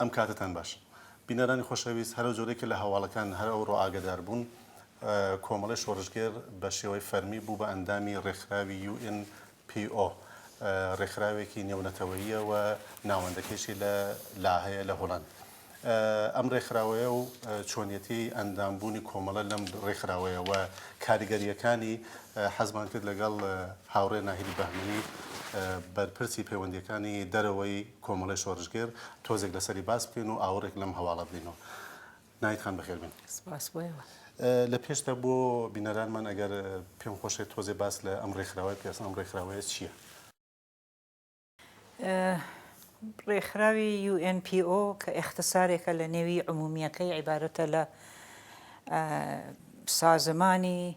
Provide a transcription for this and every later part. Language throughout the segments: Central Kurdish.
ئەم کاتەتان باش. بینەرانی خۆشەویست، هەرەو جۆرەی کە لە هەواڵەکان هەر ئەوڕۆ ئاگەدار بوون، کۆمەڵەی شۆڕشگێر بە شێوەی فەرمی بوو بە ئەندامی ڕێکخراوی UNPO، ڕێکخراوێکی نێونەتەوەییە و ناوەندەکەیشی لە لاهەیە لە هۆڵەند. ئەم ڕێکخراوەیە و چۆنیەتی ئەندام بوونی کۆمەڵە لەم ڕێکخراوەیە و کاریگەرییەکانی حەزمان کرد لەگەڵ هاوڕێ ناهید بەهمەنی بەرپرسی پەیوەندییەکانی دەرەوەی کۆمەڵەی شۆرشگێر تۆزێک لەسەری باس بکەین و ئاوڕێک لەم هەواڵە بدەینەوە. ناهید خان بەخێر بێن. سپاس بۆ ئێوە. لە پێشدا بۆ بینەرانمان ئەگەر پێم خۆشێت تۆزێ باس لە ئەم ڕێکخراوەی بکەی ئەسڵەن ئەم ڕێکخراوەیە چییە؟ ڕێکخراوی UNPO کە ئێختصارێکە لە نێوی عمومییەکەی عیبارەتە لە سازمانی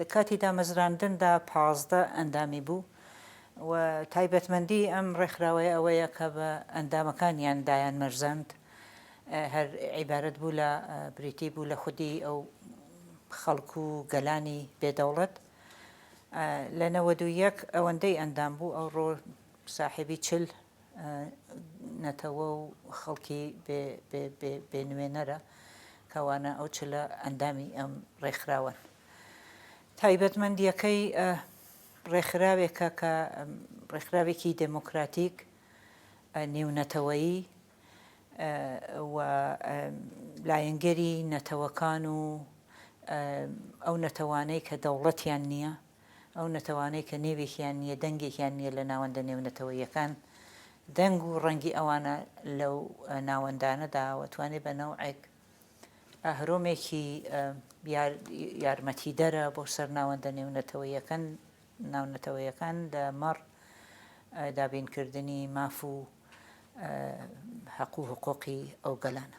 لە کاتی دامەزراندندا پازدە ئەندامی بوو و تایبەتمەندیی ئەم ڕێکخراوەیە ئەوەیە کە بە ئەندامەکانیان دایانمەرزاند هەر عیبارەت بوو لە بریتی بوو لە خودی ئەو خەڵک و گەلانی بێ دەوڵەت لە نەوەد و یەک ئەوەندەی ئەندام بوو ئەوڕۆ ساحێبی چل نەتەوە و خەڵکی بێ نوێنەرە، کەوانە ئەو چلە ئەندامی ئەم ڕێکخراوەن. تایبەتمەندییەکەی ڕێکخراوێکە کە ڕێکخراوێکی دێمۆکراتیک نێونەتەوەیی و لایەنگری نەتەوەکان و ئەو نەتەوانەی کە دەوڵەتیان نییە، ئەو نەتەوانەی کە نێوێکیان نییە، دەنگێکیان نییە لە ناوەندە نێونەتەوەییەکان، دەنگ و ڕەنگی ئەوانە لەو ناوەندانەدا و توانێ بە نەوعێک ئەهرۆمێکی یارمەتیدەرە بۆ سەر ناوەندە نێونەتەوەییەکان ناونەتەوەیەکان لە مەڕ دابینکردنی ماف و هەقوو هەقۆقی ئەو گەلانە.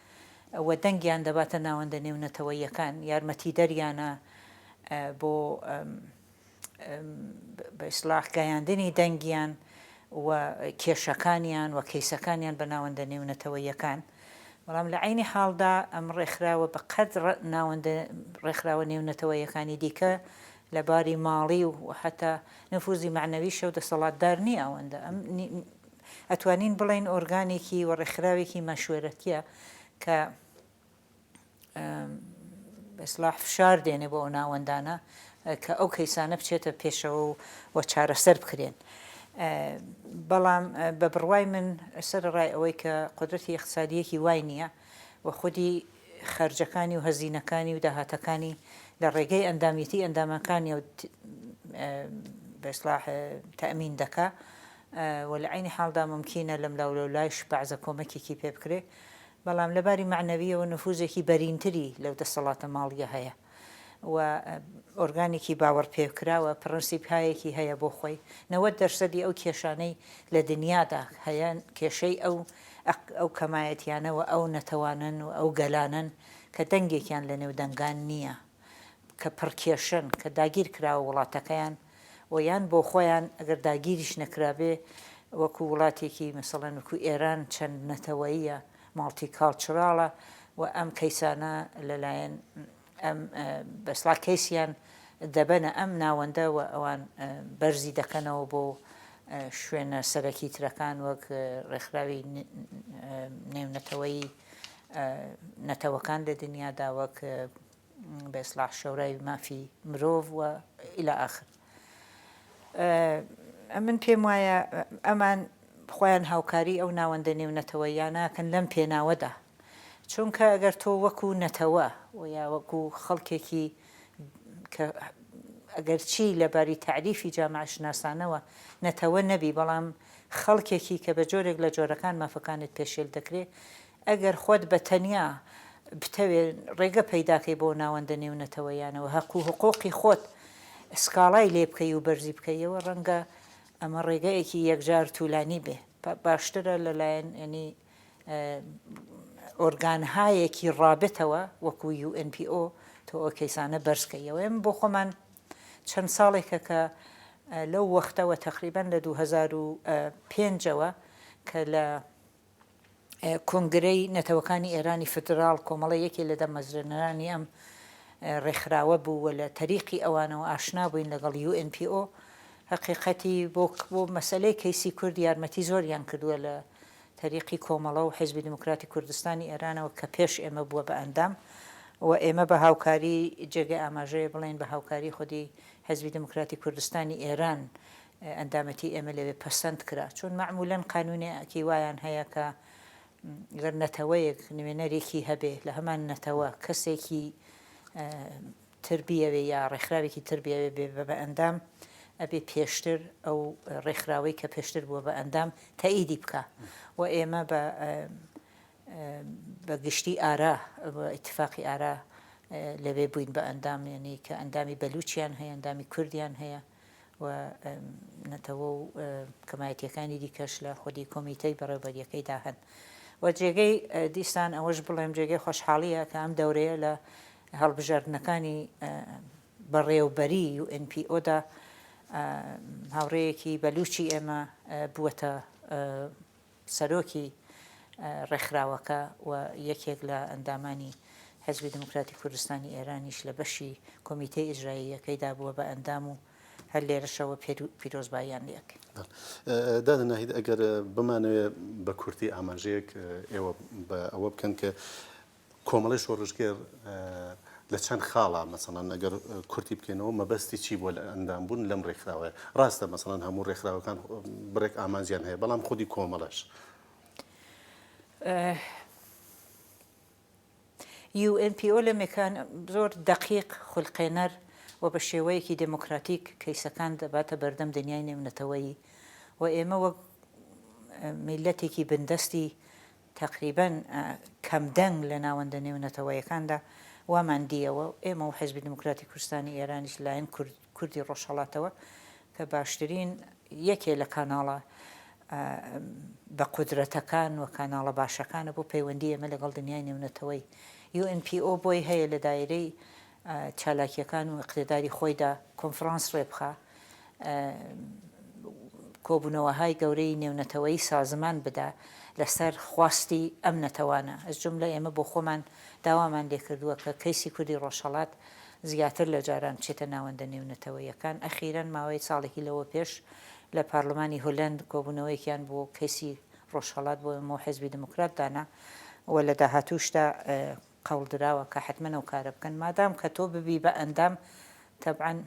و دەنگیان دەباتە ناوەندە نێونەتەوەییەکان، یارمەتیدەریانە بۆ بە ئیسڵاح گەیاندنی دەنگیان و کێشەکانیان و کەیسەکانیان بە ناوەندە نێونەتەوەییەکان، بەڵام لە عەینی حاڵدا ئەم ڕێکخراوە بە قەد ناوەندە ڕێکخراوە نێونەتەوەییەکانی دیکە لە باری ماڵی و هەتا نفوزی مەعنەویشەوە دەسەڵاتدار نییە ئەوەندە ئەم ئەتوانین بڵێین ئۆرگانێکی و ڕێکخراوێکی مەشوەرەتیە کە بە ئیسڵاح فشار دێنێ بۆ ئەو ناوەندانە کە ئەو کەیسانە بچێتە پێشەوە و و چارەسەر بکرێن. بەڵام بە بڕوای من سەرڕای ئەوەی کە قدرەتی اقتصادیەکی وای نییە و خودی خەرجەکانی و هەزینەکانی و داهاتەکانی لە ڕێگەی ئەندامیەتی ئەندامەکانی و بە ئیسڵاح تەمین دەکا و لە عەینی حاڵدا مومکینە لەملاولەولایش بەعزە کۆمەکێکی پێ بکرێ، بەڵام لە باری مەعنەوییەوە نفوزێکی بەرینتری لەو دەسەڵاتە ماڵییە هەیە و ئۆرگانێکی باوەڕپێکراوە پڕنسیپهایەکی هەیە بۆ خۆی، نەوەد دەرسەدی ئەو کێشانەی لە دنیادا هەیە کێشەی ئەو ئەو کەمایەتیانە و ئەو نەتەوانەن و ئەو گەلانەن کە دەنگێکیان لە نێو دەنگان نییە کە پڕکێشەن، کە داگیرکراوە وڵاتەکەیان، و یان بۆ خۆیان ئەگەر داگیریش نەکرابێ وەکو وڵاتێکی مەسەڵەن وەکو ئێران چەند نەتەوەییە ماڵتی کاڵچڕاڵە و ئەم کەیسانە لەلایەن ئەم بەسڵا کەیسیان دەبەنە ئەم ناوەندە و ئەوان بەرزی دەکەنەوە بۆ شوێنە سەرەکی ترەکان وەک ڕێکخراوی نێونەتەوەی نەتەوەکان لە دنیادا وەک بە ئیسلاح شەورای مافی مرۆڤ و الی اخر من پێم وایە ئەمان خۆیان هاوکاری ئەو ناوەندە نێونەتەوەییاناکەن لەم پێناوەدا چونکە ئەگەر تۆ وەکو نەتەوە و یا وەکو خەڵکێکی کە ئەگەرچی لەباری تعریفی جامعشناسانەوە نەتەوە نەبی بەڵام خەڵکێکی کە بە جۆرێک لە جۆرەکان مافەکانت پێشێل دەکرێ ئەگەر خۆت بە تەنیا بتەوێ ڕێگە پەیداکەی بۆ ناوەندە نێونەتەوەییانەوە هەق و حقوقی خۆت سکاڵای لێ بکەی و بەرزی بکەیەوە ڕەنگە ئەمە ڕێگەیەکی یەکجار توولانی بێ باشترە لە لایەن یەنی ئۆرگانهایەکی ڕابتەوە وەکو یو ئێن پی ئۆ تۆ ئەو کەیسانە بەرز کەیەوە ئێمە بۆ خۆمان چەند ساڵێکە کە لەو وەختەوە تەقریبەن لە دوو هەزار و پێنج ەوە کە لە کۆنگرەی نەتەوەکانی ئێرانی فیدراڵ کۆمەڵە یەکێ لە دامەزرێنەرانی ئەم ڕێکخراوە بوو و لە تەریقی ئەوانەوە ئاشنا بووین لەگەڵ UNPO هەقیقەتی بۆ بۆ مەسەلەی کەیسی کورد یارمەتی زۆریان کردووە لە تەریقی کۆمەڵە و حیزبی دیموکراتی کوردستانی ئێرانەوە کە پێش ئێمە بووە بە ئەندام و ئێمە بە هاوکاری جێگەی ئاماژەیە بڵێین بە هاوکاری خودی حیزبی دیموکراتی کوردستانی ئێران ئەندامەتی ئێمە لەوێ پەسەند کرا، چون مەعمولەن قانونێ کی وایان هەیە کە گەر نەتەوەیەک نوێنەرێکی هەبێ لە هەمان نەتەوە کەسێکی تر بیەوێ یا ڕێکخراوێکی تر بیەوێ بێ بە ئەندام ئەبێ پێشتر ئەو ڕێکخراوەی کە پێشتر بووە بە ئەندام تەئیدی بکا و ئێمە بە بە گشتی ئارا ئیتفاقی ئارا لەوێ بووین بە ئەندام یعنی کە ئەندامی بەلوچیان هەیە ئەندامی کوردیان هەیە و نەتەوە و کەمایەتیەکانی دیکەش لە خودی کۆمیتەی بەڕێوبەریەکەیدا هەن و جێگەی دیسان ئەوەش بڵێم جێگەی خۆشحاڵیە کە ئەم دەورەیە لە هەڵبژاردنەکانی بەڕێوبەری UNPO دا هاوڕێیەکی بەلوچی ئێمە بووەتە سەرۆکی ڕێکخراوەکە و یەکێک لە ئەندامانی حیزبی دێموکراتی کوردستانی ئێرانیش لە بەشی کۆمیتەی ئیجراییەکەیدا بووە بە ئەندام و هەر لێرەشەوە پیرۆزباییان لێ ئەکەین. دادە ناهید ئەگەر بمانەوێ بە کورتی ئاماژەیەک ئێوە بە ئەوە بکەن کە کۆمەڵەی شۆڕشگێڕ لە چەند خاڵە مەسەڵەن ئەگەر کورتی بکەینەوە مەبەستی چی بۆ لە ئەندام بوون لەم ڕێکخراوەیە ڕاستە مەسەڵەن هەموو ڕێکخراوەکان بڕێک ئامانجیان هەیە بەڵام خودی کۆمەڵەش. UNPO لە مێکان زۆر دەقیق خولقێنەر و بە شێوەیەکی دێمۆکراتیک کەیسەکان دەباتە بەردەم دنیای نێونەتەوەیی و ئێمە وەک میللەتێکی بندەستی تەقریبەن کەم دەنگ لە ناوەندە نێونەتەوەیەکاندا وامان دییەوە، ئێمە و حیزبی دیموکراتی کوردستانی ئێرانیش لەلایەن کوردی ڕۆژهەڵاتەوە کە باشترین یەکێ لە کاناڵە بە قودرەتەکان و کاناڵە باشەکانە بۆ پەیوەندی ئێمە لەگەڵ دنیای نێونەتەوەی، یو ئێن پی ئۆ بۆی هەیە لە دایرەی چالاکیەکان و ئیقتیداری خۆیدا کۆنفرانس ڕێبخا کۆبونەوەهای گەورەی نێونەتەوەیی سازمان بدا لەسەر خواستی ئەم نەتەوانە ئەز جوملە ئێمە بۆ خۆمان داوامان لێکردووە کە کەیسی کوردی ڕۆژهەڵات زیاتر لە جاران بچێتە ناوەندە نێونەتەوەیەکان ئەخیرەن ماوەی ساڵێکی لەوە پێش لە پارلمانی هولەند کۆبونەوەیەکیان بۆ کەیسی ڕۆژهەڵات بۆ ئێمە و حێزبی دیموکرات دانا و لە داهاتووشدا قەوڵدراوە کە حەتمەن ئەو کارە بکەن مادام کە تۆ ببی بە ئەندام تەبعەن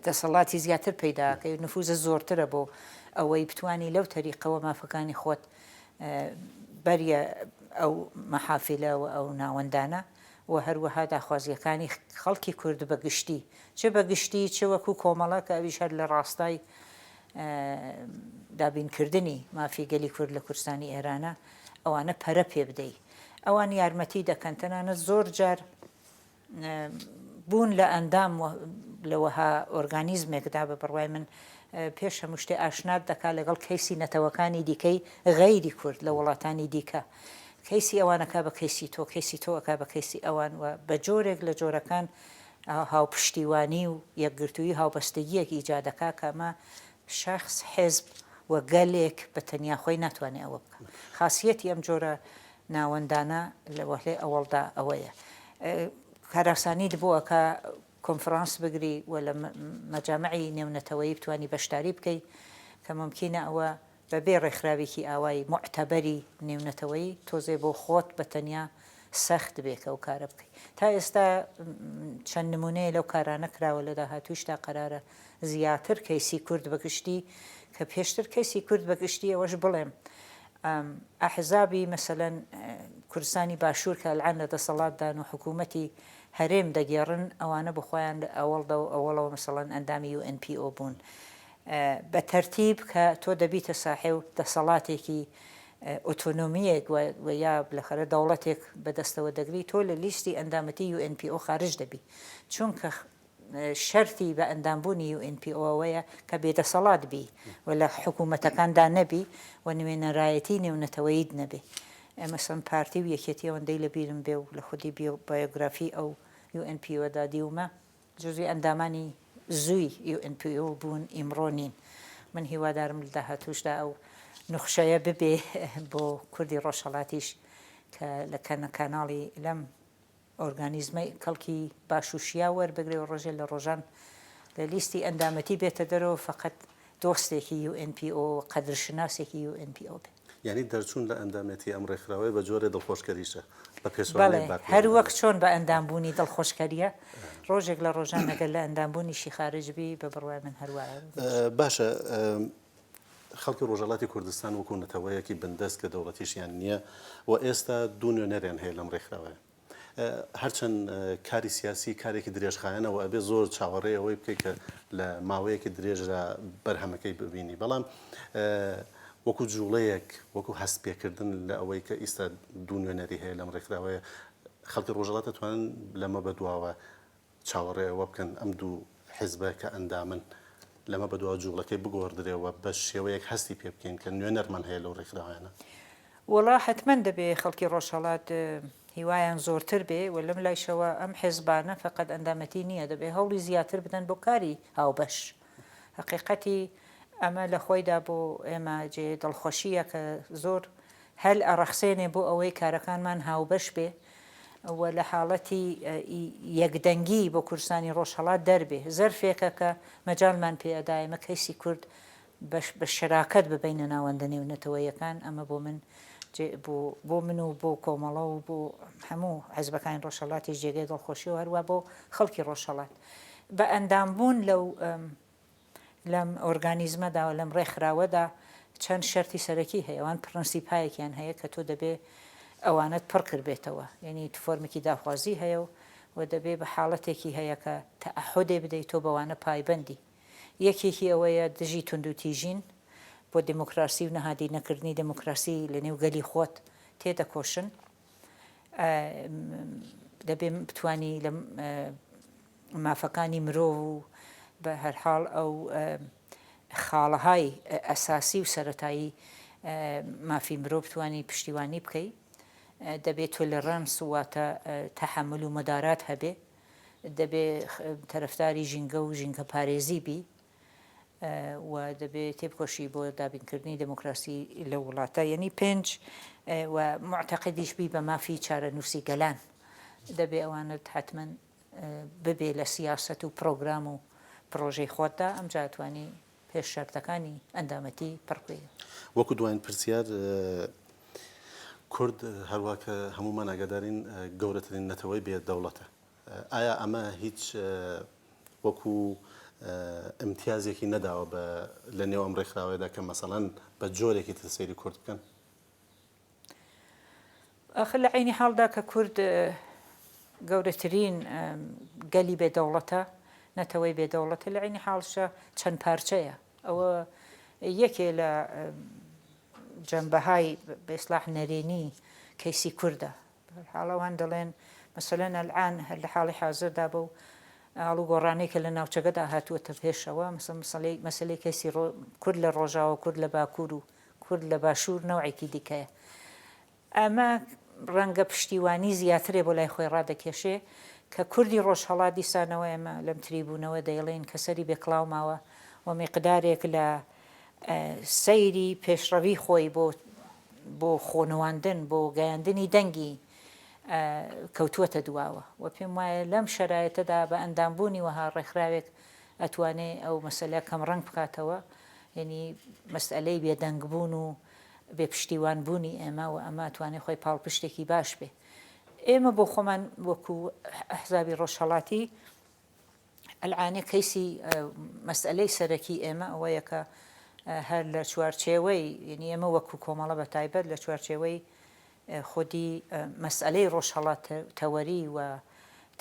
دەسەڵاتی زیاتر پەیدا ئەکەی و نفوزت زۆرترە بۆ ئەوەی بتوانی لەو تەریقەوە مافەکانی خۆت بەریە ئەو مەحافیلە و ئەو ناوەندانە و هەروەها داخوازییەکانی خەڵکی کورد بە گشتی چ بە گشتی چ وەکوو کۆمەڵە کە ئەویش هەر لە ڕاستای دابینکردنی مافی گەلی کورد لە کوردستانی ئێرانە ئەوانە پەرە پێ بدەی. ئەوان یارمەتی دەکەن تەنانەت زۆر جار بوون لە ئەندام لە وەها ئۆرگانیزمێکدا بە بڕوای من پێش هەموو شتێ ئاشنات دەکات لەگەڵ کەیسی نەتەوەکانی دیکەی غەیری کورد لە وڵاتانی دیکە کەیسی ئەوانەکە بە کەیسی تۆ کەیسی تۆەکە بە کەیسی ئەوان و بە جۆرێک لە جۆرەکان هاوپشتیوانی و یەکگرتووی هاوبەستگیەک ئیجادەکە کەمە شەخس، حزب و گەلێک بە تەنیا خۆی ناتوانێ ئەوە بکا. خاسیەتی ئەم جۆرە ناوەندانە لە وەهلەی ئەوەڵدا ئەوەیە کارئاسانی دبۆ ئەکا کۆنفرانس بگری و لە مەجامعی نێونەتەوەیی بتوانی بەشداری بکەی کە مومکینە ئەوە بە بێ ڕێکخراوێکی ئاوای موعتەبەری نێونەتەوەیی تۆزێ بۆ خۆت بە تەنیا سەخت بێ کە ئەو کارە بکەی. تا ئێستا چەند نموونەیە لەو کارانە کراوە لە داهاتوویشدا قەرارە زیاتر کەیسی کورد بە گشتی کە پێشتر کەیسی کورد بە گشتی ئەوەش بڵێم ئەحزابی مەسەلەن کوردستانی باشوور کە ئەلعان لە دەسەڵاتدان و حکوومەتی هەرێم دەگێڕن ئەوانە بخۆیان لە ئەوەڵدا و ئەوەڵەوە مەسەڵەن ئەندامی و NPO بوون بە تەرتیب کە تۆ دەبیتە ساحێ و دەسەڵاتێکی ئۆتۆنۆمیەک و یا لەخەرە دەوڵەتێک بەدەستەوە دەگری تۆ لە لیستی ئەندامەتی UNPO خارج دەبی چونکە شەرتی بە ئەندام بوونی یو ئێن پی ئۆ ئەوەیە کە بێ دەسەڵات بی و لە حکوومەتەکاندا نەبی و نوێنەرایەتی نێونەتەوەییت نەبێ. مەسەڵەن پارتی و یەکێتی ئەوەندەی لە بیرم بێ و لە خودی بایۆگرافی ئەو یو ئێن پی ئۆ دا دیومە جزوی ئەندامانی زووی یو ئێن پی ئۆ بوون ئیمڕۆ نین. من هیوادارم لە داهاتووشدا ئەو نوخشەیە ببێ بۆ کوردی ڕۆژهەڵاتیش کە لە کەناڵی لەم ئۆرگانیزمە کەڵکی باش و شیاو وەربگرێ و ڕۆژێ لە ڕۆژان لە لیستی ئەندامەتی بێتە دەرەوە و فەقەت دۆستێکی یو ئێن پی ئۆ و قەدرشناسێکی یو ئێن پی ئۆ بێ. یانی دەرچوون لە ئەندامێتی ئەم ڕێکخراوەیە بە جۆرێ دڵخۆشکەریشە بە پێچوانەی بەڵێ، باکوور هەر وەک ئێرانە. چۆن بە ئەندام بوونی دڵخۆشکەریە، ڕۆژێک لە ڕۆژان ئەگەر لە ئەندام بوونیشی خارج بی، بە بڕوای من هەر وایە. باشە، خەڵکی ڕۆژهەڵاتی کوردستان وەکو نەتەوەیەکی بندەست کە دەوڵەتیشیان نییە و ئێستا دوو نوێنەریان هەیە لەم ڕێکخراوەیە هەرچەند کاری سیاسی کارێکی درێژخایەنە و ئەبێ زۆر چاوەڕێ ئەوەی بکەیت کە لە ماوەیەکی درێژرا بەرهەمەکەی ببینی بەڵام وەکو جوڵەیەک وەکو هەست پێکردن لە ئەوەی کە ئیستا دوو نوێنەری هەیە لەم ڕێکخراوەیە خەڵکی ڕۆژەڵات دەتوانن لەمە بەدواوە چاوەڕێ ئەوە بکەن ئەم دوو حیزبە کە ئەندامن لەمە بەدوا جووڵەکەی بگۆڕدرێ و بە شێوەیەک هەستی پێ بکەین کە نوێنەرمان هەیە لەو ڕێکخراوانە. وەڵا حەتمەن دەبێ خەڵکی ڕۆژهەڵات هیوایان زۆرتر بێ و لەم لایشەوە ئەم حیزبانە فەقەت ئەندامەتی نییە دەبێ هەوڵی زیاتر بدەن بۆ کاری هاوبەش هەقیقەتی ئەمە لە خۆیدا بۆ ئێمە جێ دڵخۆشییە کە زۆر هەل ئەڕەخسێنێ بۆ ئەوەی کارەکانمان هاوبەش بێ و لە حاڵەتی یەکدەنگی بۆ کوردستانی ڕۆژهەڵات دەربێ، زەرفێکە کە مەجالمان پێ ئەدا ئێمە کەیسی کورد بە شەراکەت ببەینە ناوەندە نێونەتەوەییەکان، ئەمە بۆ من بۆ من و بۆ کۆمەڵە و بۆ هەموو حزبەکانی ڕۆژهەڵاتیش جێگەی دڵخۆشییە و هەروا بۆ خەڵکی ڕۆژهەڵات. بە ئەندامبوون لەو لەم ئۆرگانیزمەدا و لەم ڕێکخراوەدا چەند شەرتی سەرەکی هەیە، ئەوان پڕنسیپایەکیان هەیە کە تۆ دەبێ ئەوانەت پڕ کربێتەوە، یەنی فۆرمێکی داخوازی هەیە و و دەبێ بە حاڵەتێکی هەیە کە تەعەهودێ بدەی تۆ بەوانە پایبەندی. یەکێکی ئەوەیە دژی توندوتیژین، بۆ دێمۆکڕاسی و نهادینەکردنی دێمۆکڕاسی لەنێو گەلی خۆت تێدەکۆشن. دەبێ بتوانی لە مافەکانی مرۆڤ و بە هەرحاڵ ئەو خاڵەهای ئەساسی و سەتایی مافی مرۆ بتانی پشتیوانی بکەی دەبێت تۆ لە ڕەنس واتە تەحمل و مەدارات هەبێ دەبێ تەرەفداری ژینگە و ژینگە پارێزی بی و دەبێ تێبکۆشی بۆ دابینکردنی دێمۆکراسی لەو وڵاتە یەنی پێنج و موعتەقدیش بی بە مافی چارەنووسی گەلان دەبێ ئەوانت حەتمەن ببێ لە سیاسەت و پڕۆگرام و پڕۆژەی خۆتدا ئەمجا ئەتوانی پێش شەرتەکانی ئەندامەتی پڕ بی. وەکو دواین پرسیار کورد هەروا کە هەموومان ئاگادارین گەورەترین نەتەوەی بێ دەوڵەتە ئایا ئەمە هیچ وەکو ئیمتیازێکی نەداوە بە لە نێو ئەم ڕێکخراوەیەدا کە مەسەڵەن بە جۆرێکی تر سەیری کورد بکەن؟ ئاخر لە عەینی حاڵدا کە کورد گەورەترین گەلی بێ دەوڵەتە، نەتەوەی بێ دەوڵەتە، لە عەینی حاڵشدا چەند پارچەیە. ئەوە یەکێ لە جەمبەهای بە ئیسڵاح نەرێنی کەیسی کوردە. بەهەرحاڵ ئەوان دەڵێن مەسەلەن ئەلئان هەر لە حاڵی حازردا بەو ئاڵوگۆڕانەی کە لە ناوچەکەدا هاتووەتە پێشەوە مەسەلەی مەسەلەی کەسی کورد لە ڕۆژاوا و کورد لە باکوور و کورد لە باشوور نەوعێکی دیکەیە ئەمە ڕەنگە پشتیوانی زیاترێ بۆ لای خۆی ڕادەکێشێ کە کوردی ڕۆژهەڵات دیسانەوە ئێمە لەم تریبوونەوە دەیڵێین کە سەری بێکڵاو ماوە و میقدارێک لە سەیری پێشڕەوی خۆی بۆ بۆ خۆنواندن، بۆ گەیاندنی دەنگی کەوتووەتە دواوە و پێم وایە لەم شەرایتەدا بە ئەندامبوونی وەها ڕێکخراوێک ئەتوانێ ئەو مەسەلە کەمڕەنگ بکاتەوە، یەنی مەسئەلەی بێدەنگبوون و بێ پشتیوان بوونی ئێمە و ئەمە ئەتوانێ خۆی پاڵپشتێکی باش بێ. ئێمە بۆ خۆمان وەکوو ئەحزابی ڕۆژهەڵاتی، ئەلعانی کەیسی مەسئەلەی سەرەکی ئێمە ئەوەیە کە هەر لە چوارچێوەی یعنی ئێمە وەکو کۆمەڵە بە تایبەت لە چوارچێوەی خودی مەسئەلەی ڕۆژهەڵات تەوەری و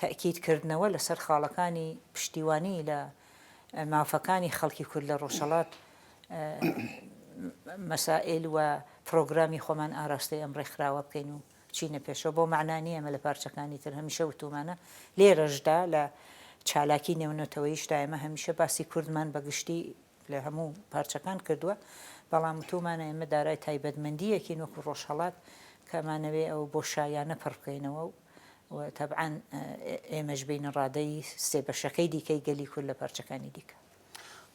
تەکیید کردنەوە لەسەر خاڵەکانی پشتیوانی لە مافەکانی خەڵکی کورد لە ڕۆژهەڵات مەسائل و پرۆگرامی خۆمان ئاراستەی ئەم ڕێکخراوە بکەین و بچینە پێشەوە بەو مەعنا نییە ئێمە لە پارچەکانی تر هەمیشە وتوومانە لێرەشدا لە چالاکی نێونەتەوەییشدا ئێمە هەمیشە باسی کوردمان بە گشتی لە هەموو پارچەکان کردووە بەڵام وتوومانە ئێمە دارای تایبەتمەندییەکین وەکو ڕۆژهەڵات کە ئەمانەوێ ئەو بۆشاییانە پڕ بکەینەوە و تەبعەن ئێمەش بینە ڕادەی سێ بەشەکەی دیکەی گەلی کورد لە پارچەکانی دیکە.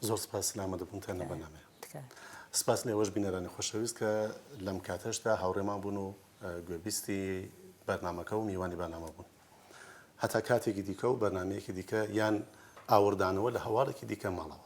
زۆر سپاس سلامە دەبن تەنە بەنامێ سپاس لێوەش بینەرانی خۆشەویست کە لەم کاتەشدا هاوڕێمان بوون و گوێبیستی بەرنمەکە و میوانی بەنامە بوون هەتا کاتێکی دیکە و بەرنمەیەکی دیکە یان ئاوردانەوە لە هەواڵێکی دیکە ماڵەوە